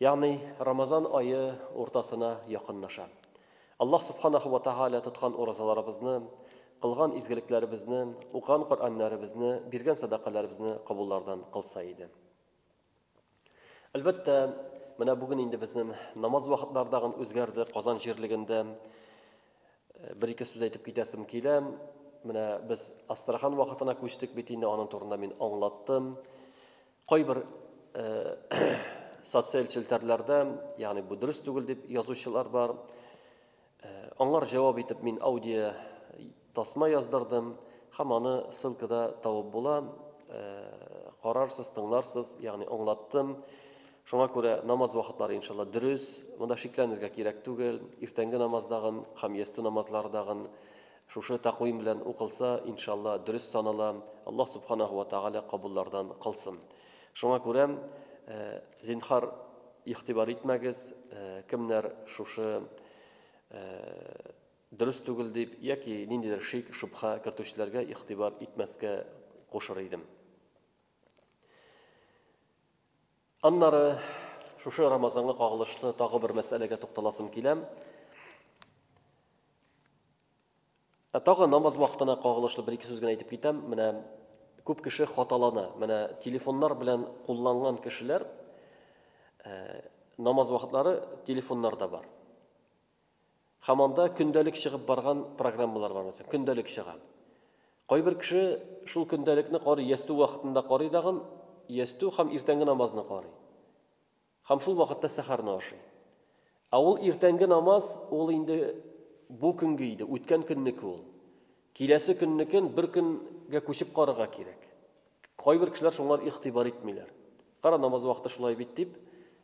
Ягъни Рамазан ае уртасына якынлаша. Аллаһ Субханаһу ва Тәгалә тоткан уразаларыбызны, кылган изгелекләребезне, укыган Коръәннәребезне, биргән сәдакаләребезне кабуллардан кылса иде. Әлбәттә, менә бүген инде безнең намаз вакытлары тагын үзгәрде. Казан җирлегендә э, бер-ике сүз әйтеп китәсем килә. Менә без Астрахан вакытына күчтек бит инде, аның турында мин аңлаттым. Кайбер социаль челтәрләрдә, ягъни бу дөрес түгел дип язучылар бар. Аңар җавап итеп мин аудио тасма яздырдым һәм аны ссылкада табып була. Карарсыз, тыңларсыз, ягъни аңлаттым. Шуңа күрә намаз вакытлары иншалла дөрес. Монда шикләнергә кирәк түгел. Иртәнге намаздагын һәм ястү намазлардагын Шушы тәкъвим белән укылса, иншалла, дөрес санала, Аллаһ Субханаһу ва Тәгалә кабуллардан кылсын. Шуңа күрә, зинхар, игътибар итмәгез, кемнәр шушы дөрес түгел дип яки ниндидер шик, шөбһә кертүчеләргә игътибар итмәскә кушыр идем. Аннары шушы Рамазанга кагылышлы тагы бер мәсьәләгә тукталасым килә. Ә тагы намаз вакытына кагылышлы бер ике сүз генә әйтеп китәм. Менә күп кеше хаталана. Менә телефоннар белән кулланган кешеләр э, намаз вакытлары телефоннарда бар. Һәм анда көндәлек чыгып барган программалар бар, мәсәлән, көндәлек чыга. Кайбер кеше шул көндәлекне карый, ястү вакытында карый дагын, ястү һәм иртәнге намазны карый. Һәм шул вакытта сәхәрне ашый. Ә ул иртәнге намаз, ул инде бу көнге иде, үткән көннеке ул. Киләсе көннекен бер көнгә күчеп карарга кирәк. Кайбер кешеләр шуңар игътибар итмиләр. Кара, намаз вакыты шулай бит дип,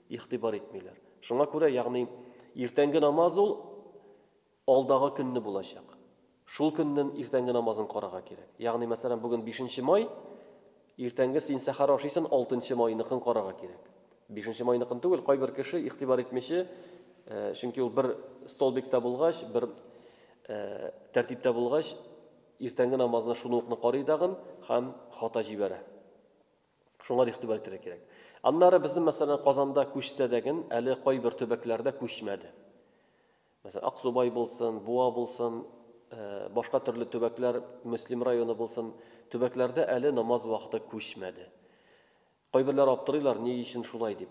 игътибар итмиләр. Шуңа күрә, ягъни, иртәнге намаз ул алдагы көнне булачак. Шул көннен иртәнге намазын карарга кирәк. Ягъни, мәсәлән, бүген бишенче май, Иртәнге син сәхәр ашыйсын, алтынчы майныкын карарга кирәк. Бишенче майныкын түгел, кайбер кеше игътибар итмиче, э, чөнки ул бер столбикта булгач, бер э, тәртиптә булгач, иртәнге намазына шуны укны карый дагын һәм хата җибәрә. Шуңа да игътибар итәргә кирәк. Аннары безнең мәсәлән Казанда күчсә дәген, әле кайбер төбәкләрдә күчмәде. Мәсәлән, Аксубай булсын, Буа булсын, башка төрле төбәкләр, Мөслим районы булсын, төбәкләрдә әле намаз вакыты күчмәде. Кайберләр аптырыйлар, ни өчен шулай дип.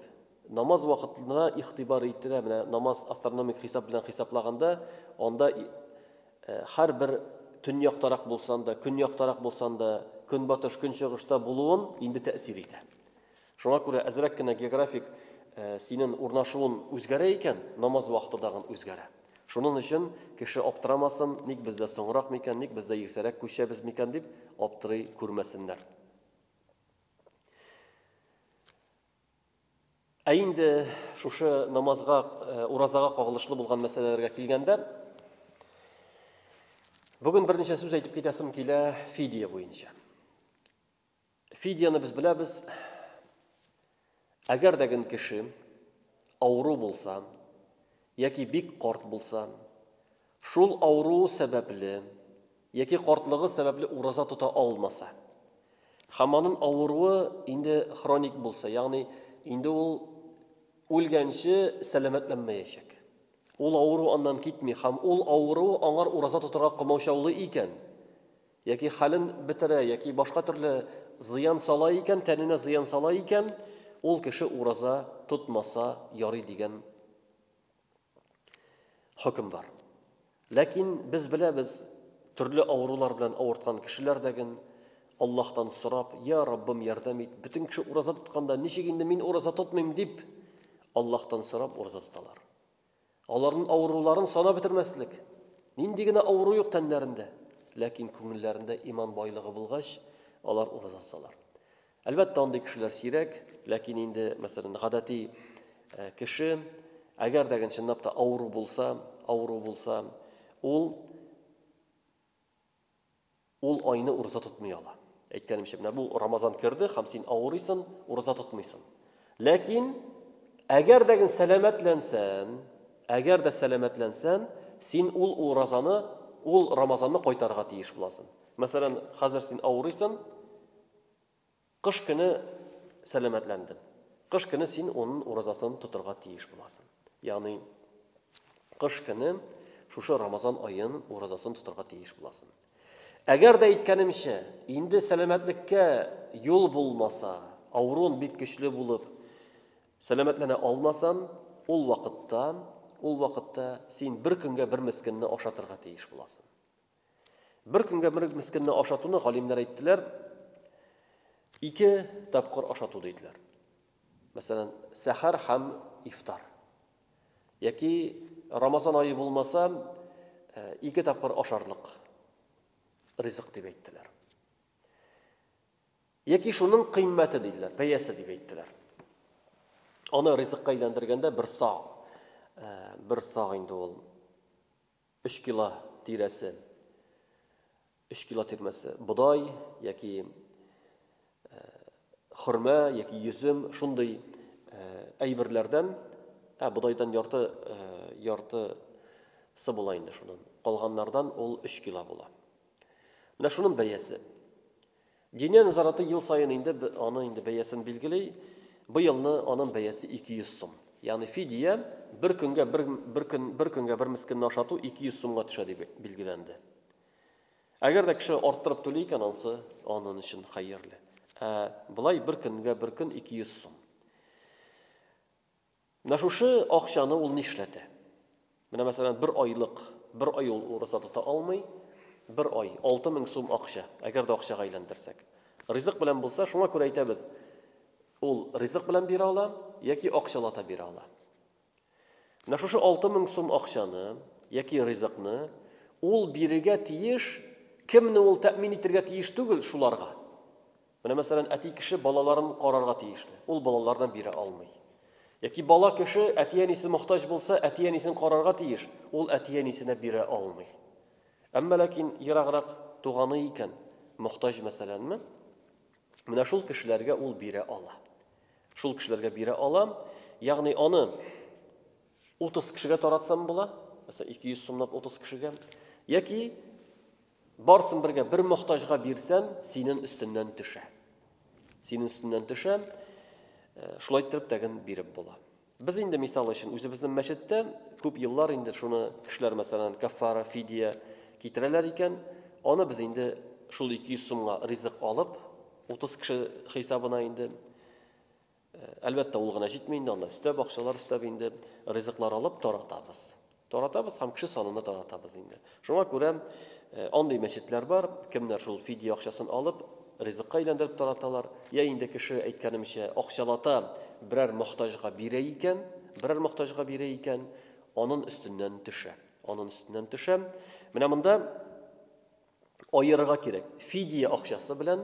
Намаз вакытына игътибар ителә, менә намаз астрономик хисап белән хисаплаганда, анда һәрбер төньяктарак булсан да, көньяктарак булсан да, көнбатыш, көнчыгышта булуын инде тәэсир итә. Шуңа күрә әзрәк кенә географик синен урнашуын үзгәрә икән, намаз вакыты дагын үзгәрә. Шунын өчен кеше аптырамасын, ник бездә соңрак микән, ник бездә иртәрәк күчәбез микән дип аптырый күрмәсеннәр. Ә инде шушы намазга, э, уразага кагылышлы булган мәсьәләләргә килгәндә, бүген берничә сүз әйтеп китәсем килә фидия буенча. Фидияне без беләбез. Әгәр дә гын кеше авыру булса, яки бик карт булса, шул авыру сәбәпле, яки картлыгы сәбәпле ураза тота алмаса, һәм аның авыруы инде хроник булса, ягъни инде ул үлгәнче сәламәтләнмәячәк. Ул авыру аннан китми һәм ул авыру аңар ураза тотарга комаучаулый икән, Яки хәлен бетерә, яки башка төрле зыян сала икән, тәненә зыян сала икән, ул кеше ураза тотмаса ярый дигән хөкем бар. Ләкин без беләбез, төрле авырулар белән авырткан кешеләр дәген Аллаһтан сорап, "Я Раббым, ярдәм ит". Бөтен кеше ураза тотканда, ничек инде мин ураза тотмыйм дип, Аллаһтан сорап ураза тоталар. Аларнын авыруларын санап бетермәслек. Нинди генә авыру юк тәннәрендә. Ләкин күңелләрендә иман байлыгы булгач, алар ураза тоталар. Әлбәттә, андый кешеләр сирәк, ләкин инде, мәсәлән, гадәти э, кеше, әгәр дә чынлап та авыру булса, авыру булса, ул Ул айны ураза тотмый ала. Әйткәнемчә, менә бу Рамазан керде һәм син авырыйсын, ураза тотмыйсын. Ләкин әгәр дә сәламәтләнсән, әгәр дә сәламәтләнсән, син ул уразаны, ул Рамазанны кайтарырга тиеш буласың. Мәсәлән, хәзер син авырыйсын, Кыш көне сәламәтләндем. Кыш көне син унын уразасын тотырга тиеш буласын. Ягъни кыш көне шушы Рамазан аен уразасын тотырга тиеш буласын. Әгәр дә әйткәнемчә, инде сәламәтлеккә юл булмаса, авырун бик көчле булып сәламәтләнә алмасам, ул вакытта, ул вакытта син бер көнгә бер мескенне ашатырга тиеш буласын. Бер көнгә бер мескенне ашатуны галимнәр әйттеләр, ике тапкыр ашату диделәр. Мәсәлән, сәхәр һәм ифтар. Яки Рамазан айы булмаса, э, ике тапкыр ашарлык ризык дип әйттеләр. Яки шуның кыйммәте диделәр, бәясе дип әйттеләр. Аны ризыкка әйләндергәндә бер саг, э, бер саг инде ул Өч кило тирәсе, өч кило тирмәсе бодай яки хөрмә яки йөзем, шундый әйберләрдән, ә бодайдан ярты, ярты сы була инде шунын. Калганнардан ул өч кило була. Менә шунын бәясе. Диния нәзараты ел саен инде аны инде бәясен билгели. Быелны аның бәясе 200 сум. Ягъни фидия бер көнгә бер бер көн бер көнгә бер мискинне ашату 200 сумга төшә дип билгеләнде. Әгәр дә кеше арттырып түли икән, ансы анын өчен хәерле. Ә былай бер көнгә бер көн 200 сум. Менә шушы акчаны ул нишләтә? Менә мәсәлән, бер айлык, бер ай ул ураза тота алмый, бер ай 6000 сум акча, әгәр дә акчага әйләндерсәк. Ризык белән булса, шуңа күрә әйтәбез, ул ризык белән бирә ала яки акчалата бирә ала. Менә шушы 6000 сум акчаны яки ризыкны ул бирегә тиеш, кемне ул тәэмин итергә тиеш түгел шуларга. Менә мәсәлән, әти кеше балаларын карарга тиешле, ул балалардан бирә алмый. Яки бала кеше әти-әнисе мохтаҗ булса, әти-әнисен карарга тиеш, ул әти-әнисенә бирә алмый. Әмма ләкин ераграк туганы икән, мохтаҗ мәсәләнме, менә шул кешеләргә ул бирә ала. Шул кешеләргә бирә ала, ягъни аны 30 кешегә таратсам була, мәсәлән, 200 сумлап 30 кешегә, яки Барсын бергә бер мохтаҗга бирсәм, синен өстеннән төшә. Синен өстеннән төшә. Э, шулай итеп тәген биреп була. Без инде мисал өчен үзебезнең мәчеттә күп еллар инде шуны кешеләр мәсәлән кафара, фидия китерәләр икән, аны без инде шул 200 сумга ризык алып, 30 кеше хисабына инде Әлбәттә, ул гына җитми инде, анда өстәп, акчалар өстәп инде ризыклар алып таратабыз. Таратабыз һәм кеше санына таратабыз инде. Шуңа күрә андый мәчетләр бар, кемнәр шул фидия акчасын алып, ризыкка әйләндереп тараталар, я инде кеше әйткәнемчә, акчалата берәр мохтаҗга бирә икән, берәр мохтаҗга бирә икән, анын өстеннән төшә. Анын өстеннән төшә. Менә монда аерырга кирәк. Фидия акчасы белән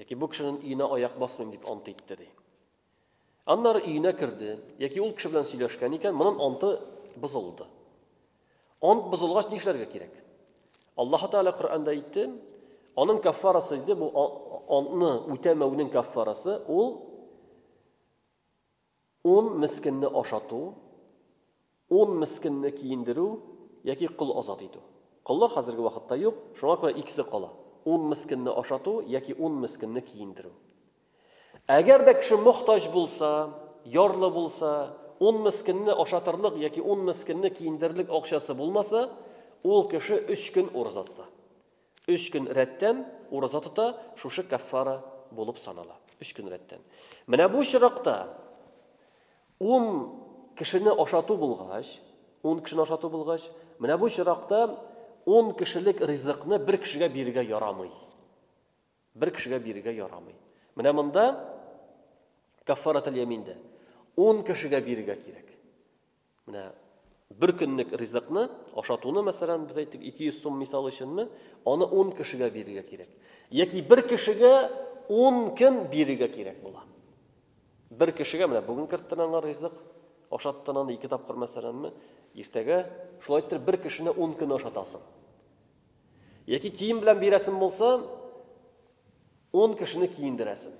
Яки бу кешенең өенә аяк басмыйм дип ант итте, ди. Аннары өенә керде, яки ул кеше белән сөйләшкән икән, моның анты бозылды. Ант бозылгач нишләргә кирәк? Аллаһ Тәгалә Коръәндә әйтте, аның каффарасы иде бу антны үтәмәүнең каффарасы ул Ун мескенне ашату, ун мескенне киендерү яки кол азат итү. Коллар хәзерге вакытта юк, шуңа күрә икесе кала, ун мескенне ашату яки ун мескенне киендерү. Әгәр дә кеше мохтаҗ булса, ярлы булса, ун мескенне ашатырлык яки ун мескенне киендерерлек акчасы булмаса, ул кеше өч көн ураза тота. Өч көн рәттән ураза тота, шушы каффара булып санала. Өч көн рәттән. Менә бу очракта ун кешене ашату булгач, ун кешене ашату булгач, менә бу очракта ун кешелек ризыкны бер кешегә бирергә ярамый. Бер кешегә бирергә ярамый. Менә монда каффаратул яминдә ун кешегә бирергә кирәк. Менә бер көнлек ризыкны, ашатуны, мәсәлән, без әйттек 200 сум мисал өченме, аны 10 кешегә бирергә кирәк. Яки бер кешегә 10 көн бирергә кирәк була. Бер кешегә менә бүген керттен аңа ризык, ашаттын аны ике тапкыр мәсәләнме, иртәгә шулай итеп бер кешене 10 көн ашатасың. Яки кием белән бирәсең булса, 10 кешене киендерәсең.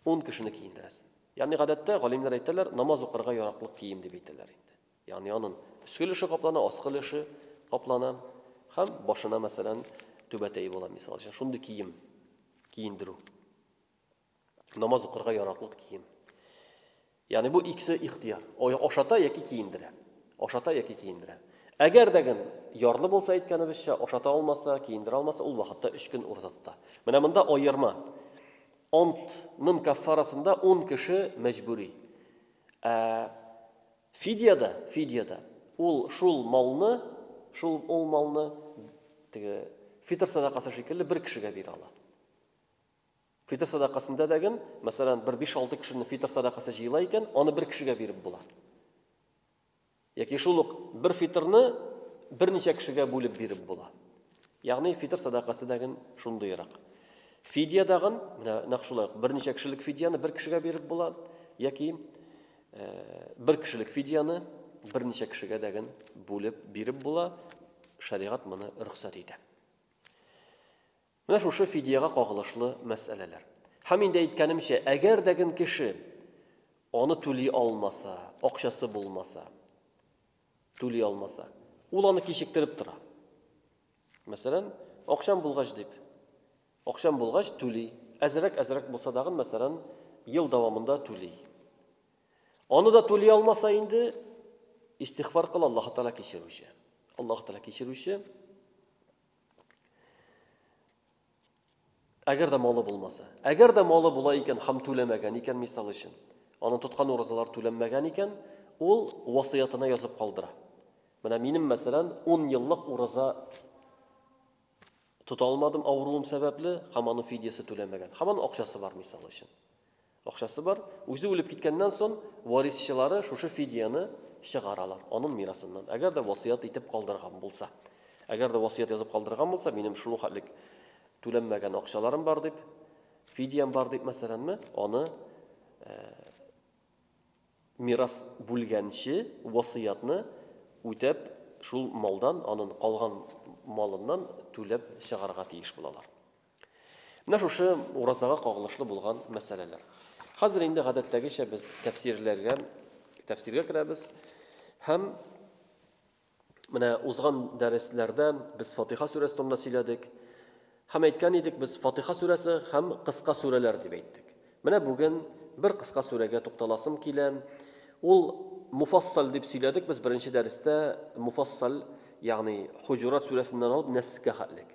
10 кешене киендерәсең. Ягъни гадәттә галимнәр әйтәләр, намаз укырга яраклы кием дип әйтәләр инде. Ягъни аның өске өлеше каплана, аскы өлеше каплана һәм башына мәсәлән түбәтәе була мисал өчен. Шундый кием киендерү. Намаз укырга яраклы кием. Ягъни бу икесе ихтияр. Ашата яки киендерә. Ашата яки киендерә. Әгәр дә гын ярлы булса әйткәнебезчә, ашата алмаса, киендерә алмаса, ул вакытта 3 көн урза тота. Менә монда аерма. Онт нын каффарасында ун кеше мәҗбүри. Ә фидиядә, фидиядә ул шул малны, шул ул малны теге фитр садакасы шикелле бер кешегә бирә ала. Фитр садакасында да ген, мәсәлән, бер 5-6 кешенең фитр садакасы җыела икән, аны бер кешегә биреп була. Яки шул ук бер фитрны берничә кешегә бүлеп биреп була. Ягъни фитр садакасы дәген шундыйрак. Фидия дагын, менә нәкъ шулай ук берничә кешелек фидияне бер кешегә биреп була, яки э, бер кешелек фидияне берничә кешегә дәген бүлеп биреп була, шәригать моны рөхсәт итә. Менә шушы фидиягә кагылышлы мәсьәләләр. Һәм инде әйткәнемчә, әгәр дә ген кеше аны түли алмаса, акчасы булмаса, түли алмаса, ул аны кичектереп тора. Мәсәлән, акчам булгач дип, акчам булгач түли, әзрәк әзрәк булса да гын, мәсәлән, ел дәвамында түли. Аны да түли алмаса инде, истихфар кыл Аллаһ Тәгалә кичерүче. Аллаһ Тәгалә кичерүче. Әгәр дә малы булмаса. Әгәр дә малы була икән һәм түләмәгән икән, мисал өчен, аны тоткан уразалар түләнмәгән икән, ул васыятына язып калдыра. Менә минем, мәсәлән, 10 еллык ураза тота алмадым авыруым сәбәпле, һәм аның фидиясе түләмәгән. Һәм аның акчасы бар, мисал өчен. Акчасы бар, үзе үлеп киткәннән сон варисчылары шушы фидияне чыгаралар, анын мирасыннан, әгәр дә васыять итеп калдырган булса. Әгәр дә васыять язып калдырган булса, минем шул хәтлек түләнмәгән акчаларым бар дип, фидиям бар дип, мәсәләнме, аны мирас бүлгәнче васыятны үтәп, шул малдан, анын калган малыннан түләп чыгарга тиеш булалар. Менә шушы уразага кагылышлы булган мәсьәләләр. Хәзер инде гадәттәгечә без тәфсирләргә, тәфсиргә керәбез һәм менә узган дәресләрдә без Фатиха сүрәсе турында сөйләдек. Һәм әйткән идек, без Фатиха сүрәсе һәм кыска сүрәләр дип әйттек. Менә бүген бер кыска сүрәгә тукталасым килә. Ул муфассал дип сөйләдек без беренче дәрестә, муфассал, ягъни Хуҗурат сүрәсеннән алып Нәскә хәтлек.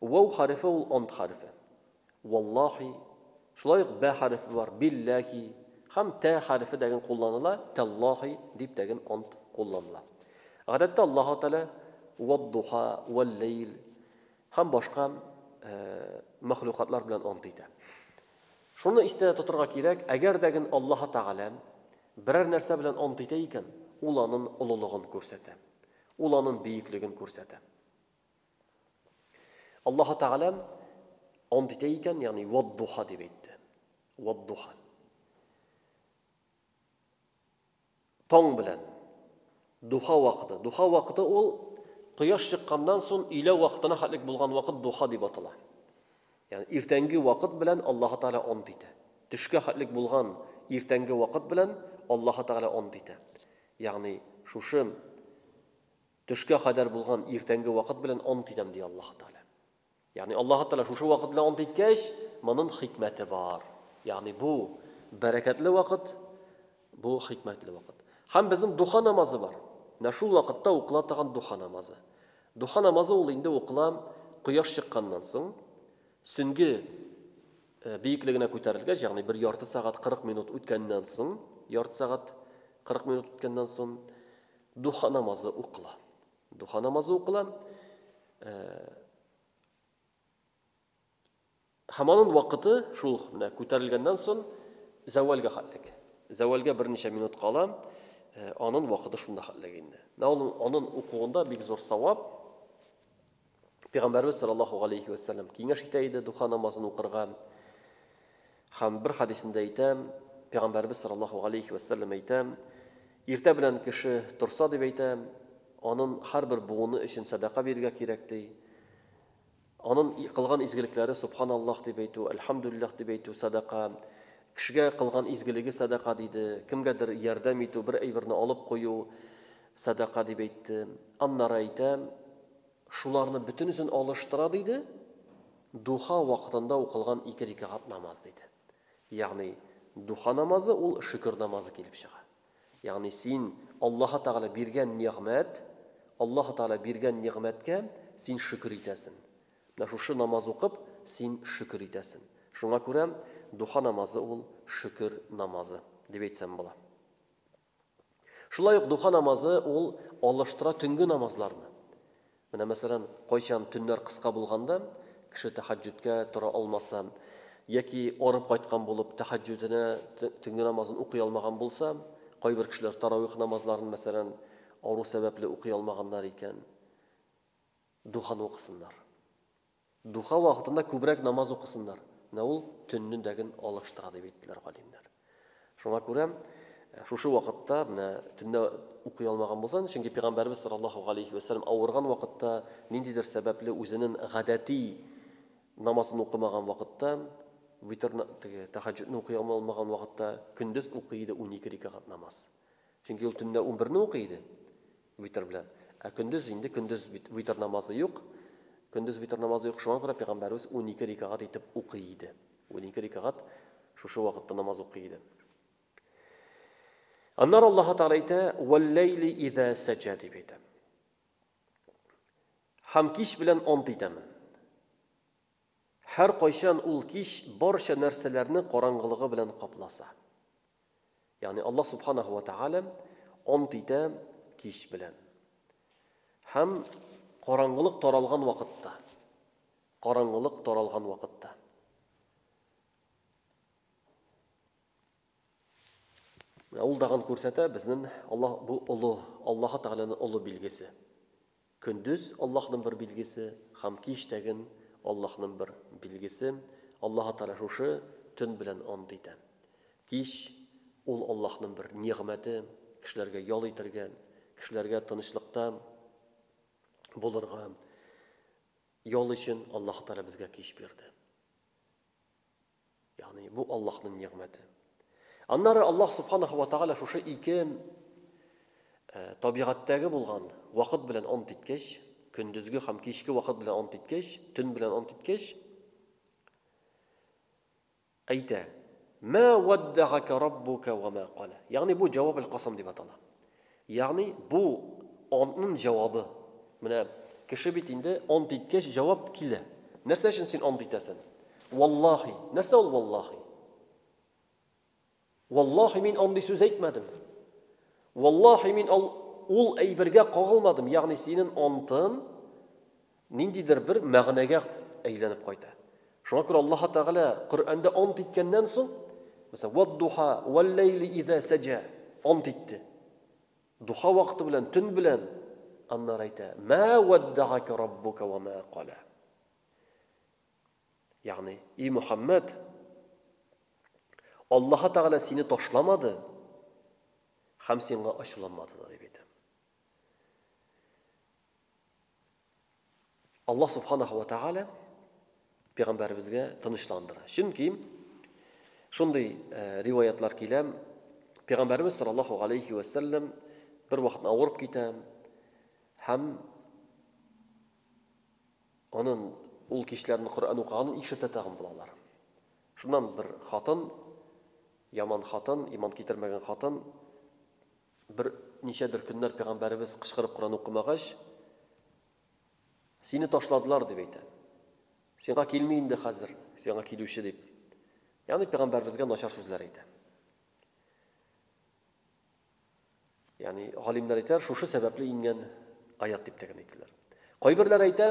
Вау хәрефе ул ант хәрефе. Валлахи, шулай ук бә хәрефе бар, билләхи, һәм тә хәрефе дәген кулланыла, тәллахи дип дәген ант кулланыла. Гадәттә Аллаһу Тәгалә вад-духа, вал-лейл һәм башка э, мәхлукатлар белән ант итә. Шуны истә тотырга кирәк, әгәр дә ген Аллаһ Тәгалә берәр нәрсә белән ант итә икән, ул аның олылыгын күрсәтә. Ул аның бөеклеген күрсәтә. Аллаһу Тәгалә ант итә икән, ягъни вад-духа дип әйтте. Вад-духа. Таң белән духа вакыты. Духа вакыты ул кояш чыкканнан соң өйлә вакытына хәтлек булган вакыт духа дип атала. Ягъни иртәнге вакыт белән Аллаһу Тәгалә ант итә. Төшкә хәтлек булган иртәнге вакыт белән Аллаһу Тәгалә ант итә. Ягъни шушы Төшкә кадәр булган иртәнге вакыт белән ант итәм, ди Аллаһы Тәгалә. Ягъни Аллаһы Тәгалә шушы вакыт белән ант иткәч, монын хикмәте бар. Ягъни бу бәрәкәтле вакыт, бу хикмәтле вакыт. Һәм безнең духа намазы бар. Менә шул вакытта укыла торган духа намазы. Духа намазы ул инде укыла кояш чыкканнан соң, сөнге э, биеклегенә күтәрелгәч, ягъни бер ярты сәгать 40 минут үткәннән соң, ярты сәгать 40 минут үткәннән соң Духа намазы укыла. Духа намазы укыла. Һәм аның вакыты шул менә күтәрелгәннән соң зәвалгә хәтлек. Зәвалгә берничә минут кала, аның вакыты шунда хәтлек инде. Менә аның аның укуында бик зур савап. Пәйгамбәрбез саллаллаһу алейхи ва саллям киңәш итә иде духа намазын укырга. Хәм бер хадисендә әйтә, Пәйгамбәрбез саллаллаһу алейхи ва саллям әйтә, иртә белән кеше торса дип әйтә, анын һәрбер буыны өчен садака бирергә кирәк ди. Анын кылган изгелекләре субханаллах дип әйтү, альхамдулиллах дип әйтү садака. Кешегә кылган изгелеге садака диде. Кемгәдер ярдәм итү, бер әйберне алып кую садака дип әйтте. Аннары әйтә, Шуларны бөтенесен алыштыра, диде, духа вакытында укылган ике рикагат намаз, диде. Ягъни, духа намазы ул шөкер намазы килеп чыга. Ягъни, син Аллаһы Тәгалә биргән нигъмәт, Аллаһы Тәгалә биргән нигъмәткә син шөкер итәсен. Менә шушы намаз укып, син шөкер итәсен. Шуңа күрә духа намазы ул шөкер намазы, дип әйтсәм була. Шулай ук духа намазы ул алыштыра төнге намазларны. Менә мәсәлән, кайчан төннәр кыска булганда, кеше тәхәҗҗүдкә тора алмаса, яки арып кайткан булып тәхәҗҗүденә төнге намазын укый алмаган булса, кайбер кешеләр таравих намазларын мәсәлән авыру сәбәпле укый алмаганнар икән, духаны укысыннар. Духа вакытында күбрәк намаз укысыннар, менә ул төнне дәген алыштыра дип әйттеләр галимнәр. Шуңа күрә шушы вакытта менә төнне укый алмаган булсаң, чөнки пәйгамбәрбез саллаллаһу галейхи ва саллям авырган вакытта ниндидер сәбәпле үзенең гадәти намазын укымаган вакытта, витрны теге тәһаҗҗудны укый алмаган вакытта көндез укый иде 12 рикагат намаз. Чөнки ул төнне 11 не укый иде. Витер белән. Ә көндез инде, көндез бит витер намазы юк. Көндез витер намазы юк, шуңа күрә пәйгамбәребез унике рикагать итеп укый иде. Унике рикагать шушы вакытта намаз укый иде. Аннары Аллаһ Тәгалә әйтә, "Вәл-ләйли иза сәҗә" дип әйтә. Һәм кич белән ант итәмен. Һәр кайчан ул кич барча нәрсәләрне караңгылыгы белән капласа. Ягъни Аллаһ Субханаһу ва Тәгалә ант итә кич белән. Һәм караңгылык таралган вакытта. Караңгылык таралган вакытта. Менә ул дагын күрсәтә безнең Аллаһ бу олы, Аллаһ Тәгаләнең олы билгесе. Көндез, Аллаһның бер билгесе, һәм кич тәген, Аллаһның бер билгесе, Аллаһы Тәгалә шушы төн белән ант итә. Кич, ул Аллаһның бер нигъмәте, кешеләргә ял итәргә, кешеләргә тынычлыкта булырга ял өчен Аллаһы Тәгалә безгә кич бирде. Ягъни бу Аллаһның нигъмәте. Аннары Аллаһ Субханаһу ва Тааля шушы ике табигатьтәге булган вакыт белән ант иткәч, көндезге һәм кичке вакыт белән ант иткәч, төн белән ант иткәч, әйтә: "Ма ваддагака раббука ва ма кала". Ягъни бу җаваб аль-касам дип атала. Ягъни бу антнын җавабы. Менә кеше бит инде ант иткәч җавап килә. Нәрсә өчен син ант итәсен? Валлахи. Нәрсә ул валлахи? Валлахи мин андый сүз әйтмәдем. Валлахи мин ул әйбергә кагылмадым. Ягъни синен антын ниндидер бер мәгънәгә әйләнеп кайта. Шуңа күрә Аллаһ Тәгалә Коръәндә ант иткәннән соң, мәсәлән, вад-духа, вал-ләйли иза сәҗә, ант итте. Духа вакыты белән, төн белән, аннары әйтә, мә ваддагака раббука ва мә кала. Ягъни, и Мухаммад, Аллаһ Тәгалә сине ташламады һәм сиңа ачуланмады да дип әйтә. Аллаһ субханаһу ва тааля пәйгамбәребезгә тынычландыра. Чөнки шундый э, риваятлар килә, пәйгамбәребез саллаллаһу алейхи ва саллям бер вакытны авырып китә һәм анын ул кичләрен Коръән укыганын ишетә тагын булалар. Шуннан бер хатын, яман хатын, иман китермәгән хатын Бер ничәдер көннәр пәйгамбәребез кычкырып Коран укымагач, сине ташладылар дип әйтә. Сиңа килми инде хәзер, сиңа килүче дип. Ягъни пәйгамбәребезгә начар сүзләр әйтә. Ягъни галимнәр әйтәләр, шушы сәбәпле ингән аят дип тә генә әйтәләр. Кайберләр әйтә,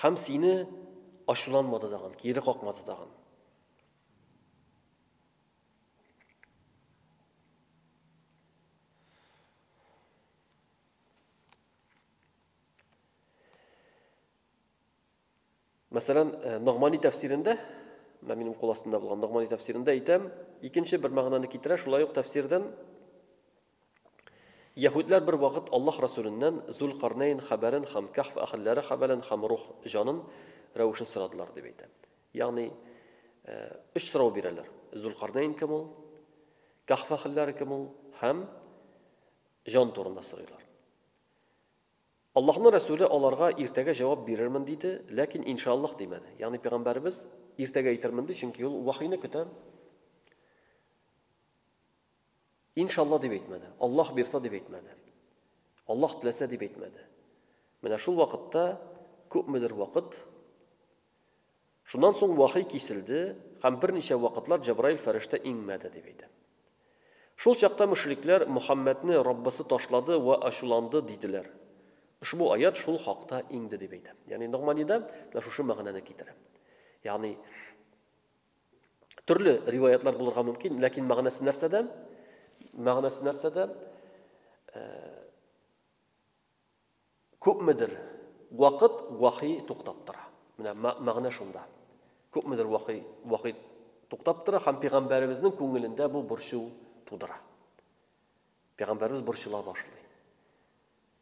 Һәм сине ачуланмады тагын, кире какмады тагын. Мәсәлән, э, Ногмани тәфсирендә, менә минем кул астында булган Ногмани тәфсирендә әйтәм, икенче бер мәгънәне китерә, шулай ук тәфсирдән Яһүдләр бер вакыт Аллаһ Расүленнән Зулкарнәйн хәбәрен һәм Кәһф әһелләре хәбәрен һәм рух, җанын, рәвешен сорадылар, дип әйтә. Ягъни, өч сорау бирәләр, Зулкарнәйн кем ул, Кәһф әһелләре кем ул һәм җан турында сорыйлар. Аллаһның Расүле аларга иртәгә җавап бирермен диде, ләкин иншааллаһ димәде. Ягъни пәйгамбәребез иртәгә әйтермен ди, чөнки ул вахйны көтә. Иншалла дип әйтмәде, Аллаһ бирса дип әйтмәде, Аллаһ теләсә дип әйтмәде. Менә шул вакытта күпмедер вакыт Шуннан соң вахи киселде һәм берничә вакытлар Җабраил фәрештә иңмәде дип әйтә. Шул чакта мөшрикләр Мөхәммәдне Раббысы ташлады ва ачуланды диделәр. Ошбу аят шул хакта иңде дип әйтә. Ягъни Ногманида менә шушы мәгънәне китерә. Ягъни Төрле риваятлар булырга мөмкин, ләкин мәгънәсе нәрсәдә? Мәгънәсе нәрсәдә? Э, күпмедер вакыт вахи туктап тора. Менә мәгънә шунда. Күпмедер вахи вахи туктап тора һәм пәйгамбәребезнең күңелендә бу борчу тудыра. Пәйгамбәребез борчыла башлый.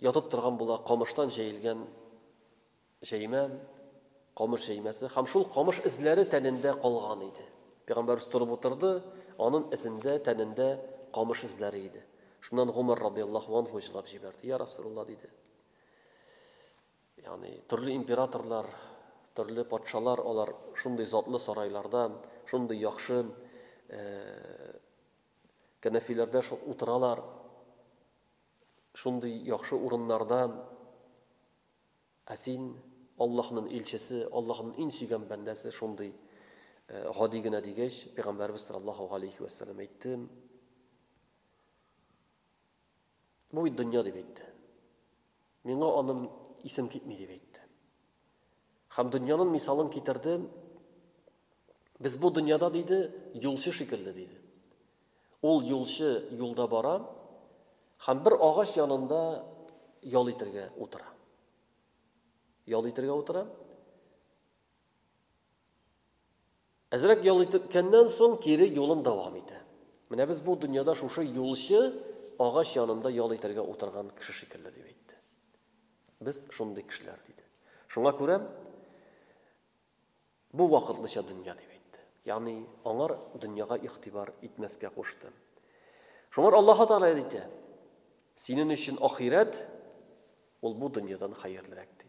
Ятып торган була камыштан җәелгән җәймә, камыш җәймәсе, һәм шул камыш эзләре тәнендә калган иде. Пәйгамбәрбез торып утырды, анын эзендә, тәнендә камыш эзләре иде. Шуннан Гомәр радыйяллаһу анһу җылап җибәрде, Йа Расулулла, диде. Ягъни, төрле императорлар, төрле патшалар, алар шундый затлы сарайларда, шундый яхшы кәнәфиләрдә утыралар. Шундый яхшы урыннарда, ә син, Аллаһнын илчесе, Аллаһнын ин сөйгән бәндәсе шундый гади генә дигәч, пәйгамбәрбез саллаллаһу галәйһи вә сәлләм әйтте, Бу бит дөнья дип әйтте. Миңа аның исем китми дип әйтте. Һәм дөньянын мисалын китерде, Без бу дөньяда, диде, юлчы шикелле, диде. Ул юлчы юлда бара, һәм бер агач янында ял итергә утыра. Ял итергә утыра. Әзрәк ял иткәннән соң кире юлын дәвам итә. Менә без бу дөньяда шушы юлчы агач янында ял итәргә утырган кеше шикелле дип әйтте. Без шундый кешеләр диде. Шуңа күрә бу вакытлыча дөнья дип әйтте. Ягъни аңар дөньяга игътибар итмәскә кушты. Шуңар Аллаһ Тәгалә әйтә: "Синең өчен ахирәт ул бу дөньядан хәерлерәк" ди.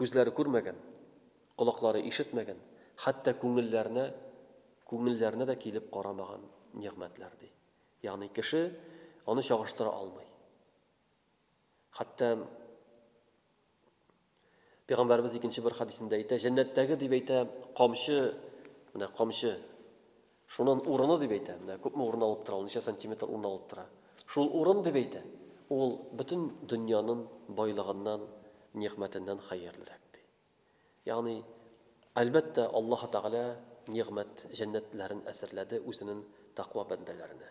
Күзләре күрмәгән, колаклары ишетмәгән, хәтта күңелләренә, күңелләренә дә килеп карамаган нигъмәтләр, ди. Ягъни кеше аны чагыштыра алмый. Хәтта Пәйгамбәрбез икенче бер хәдисендә әйтә, җәннәттәге дип әйтә, камчы, менә камчы, Шунын урыны дип әйтә. Менә күпме урын алып тора ул, ничә сантиметр урын алып тора. Шул урын дип әйтә. Ул бөтен дөньянын байлыгыннан, нигъмәтеннән хәерлерәк, ди. Ягъни, әлбәттә, Аллаһы Тәгалә нигъмәт җәннәтләрен әзерләде үзенен тәкъва бәндәләренә.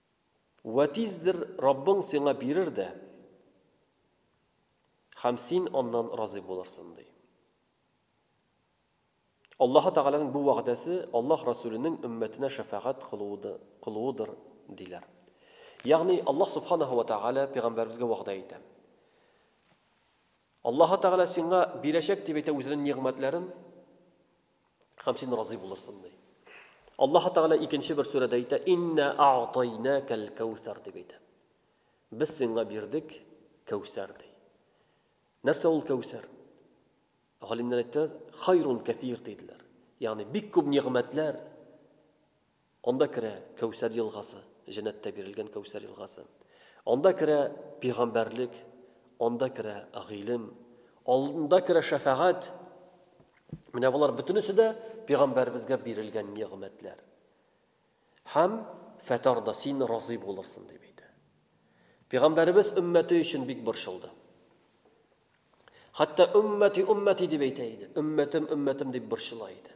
Вә тиздер Раббың сиңа бирер дә, һәм син аннан разый булырсың, ди. Аллаһы Тәгаләнең бу вәгъдәсе Аллаһ Расүленең өммәтенә шәфәгать кылуыдыр, диләр. Ягъни Аллаһ Субханаһу ва Тәгалә пәйгамбәребезгә вәгъдә итә. Аллаһы Тәгалә сиңа бирәчәк дип әйтә үзенең нигъмәтләрен, Һәм син разый булырсың ди. Аллаһ Тәгалә икенче бер сүрәдә әйтә, "Инна а'тайнакал каусар" дип әйтә. Без сиңа бирдек кәүсәр ди. Нәрсә ул кәүсәр? Галимнәр әйтте, "Хайрун кәсир" диделәр. Ягъни бик күп нигъмәтләр, Анда керә Кәүсәр елгасы, җәннәттә бирелгән Кәүсәр елгасы. Анда керә пигамбәрлек, анда керә гыйлем, анда керә шәфәгать. Менә болар бөтенесе дә пигамбәребезгә бирелгән нигъмәтләр. Һәм фәтарда син разый булырсың дип әйтә. Пигамбәребез өммәте өчен бик борчылды. Хәтта өммәти, өммәти дип әйтә иде. Өммәтем, өммәтем дип борчыла иде.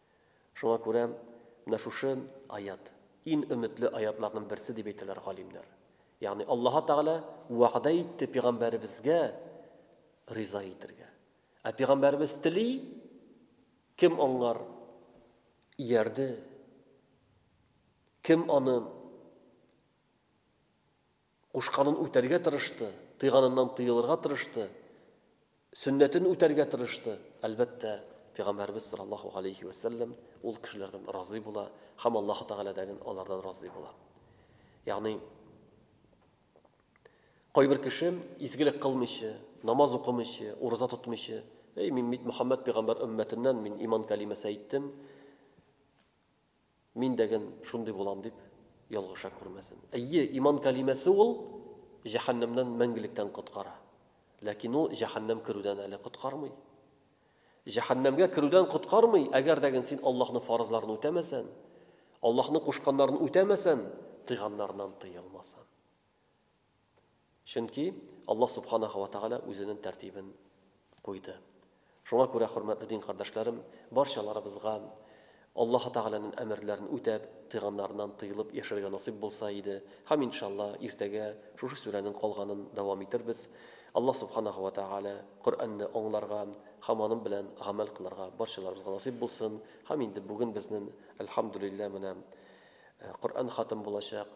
Шуңа күрә менә шушы аять, ин өметле аятларның берсе дип әйтәләр галимнәр. Ягъни Аллаһы Тәгалә вәгъдә итте пигамбәребезгә риза итергә. Ә пигамбәребез тели, кем аңар иярде, кем аны Кушканын үтәргә тырышты, тыйганыннан тыелырга тырышты, сөннәтен үтәргә тырышты. Әлбәттә, Пәйгамбәребез саллаллаһу галәйһи вә сәлләм ул кешеләрдән разый була һәм Аллаһу Тәгалә дә алардан разый була. Ягъни, кайбер кеше изгелек кылмыйча, намаз укымыйча, ураза тотмыйча, Әй, мин бит Мөхәммәд пәйгамбәр өммәтеннән, мин иман кәлимәсе әйттем. Мин дәген шундый булам дип ялгыша күрмәсен. Әйе, иман кәлимәсе ул җәһәннәмнән мәңгелектән коткара. Ләкин ул җәһәннәм керүдән әле коткармый. Җәһәннәмгә керүдән коткармый, әгәр дәген син Аллаһның фарызларын үтәмәсән, Аллаһның кушканнарын үтәмәсән, тыйганнарыннан тыелмасаң. Чөнки Аллаһ Субханаһу ва Тәгалә Үзенең тәртибен куйды. Шуңа күрә, хөрмәтле дин кардәшләрем, барчаларыбызга Аллаһы Тәгаләнең әмерләрен үтәп, тыйганнарыннан тыелып яшәргә насыйп булса иде, һәм, иншалла, иртәгә шушы сүрәнең калганын дәвам итербез. Аллаһ Субханаһу ва Тәгалә Коръәнне аңларга һәм аның белән гамәл кылырга барчаларыбызга насыйп булсын. Һәм инде бүген безнең, әлхәмдүлилләһ, менә Коръән хатым булачак.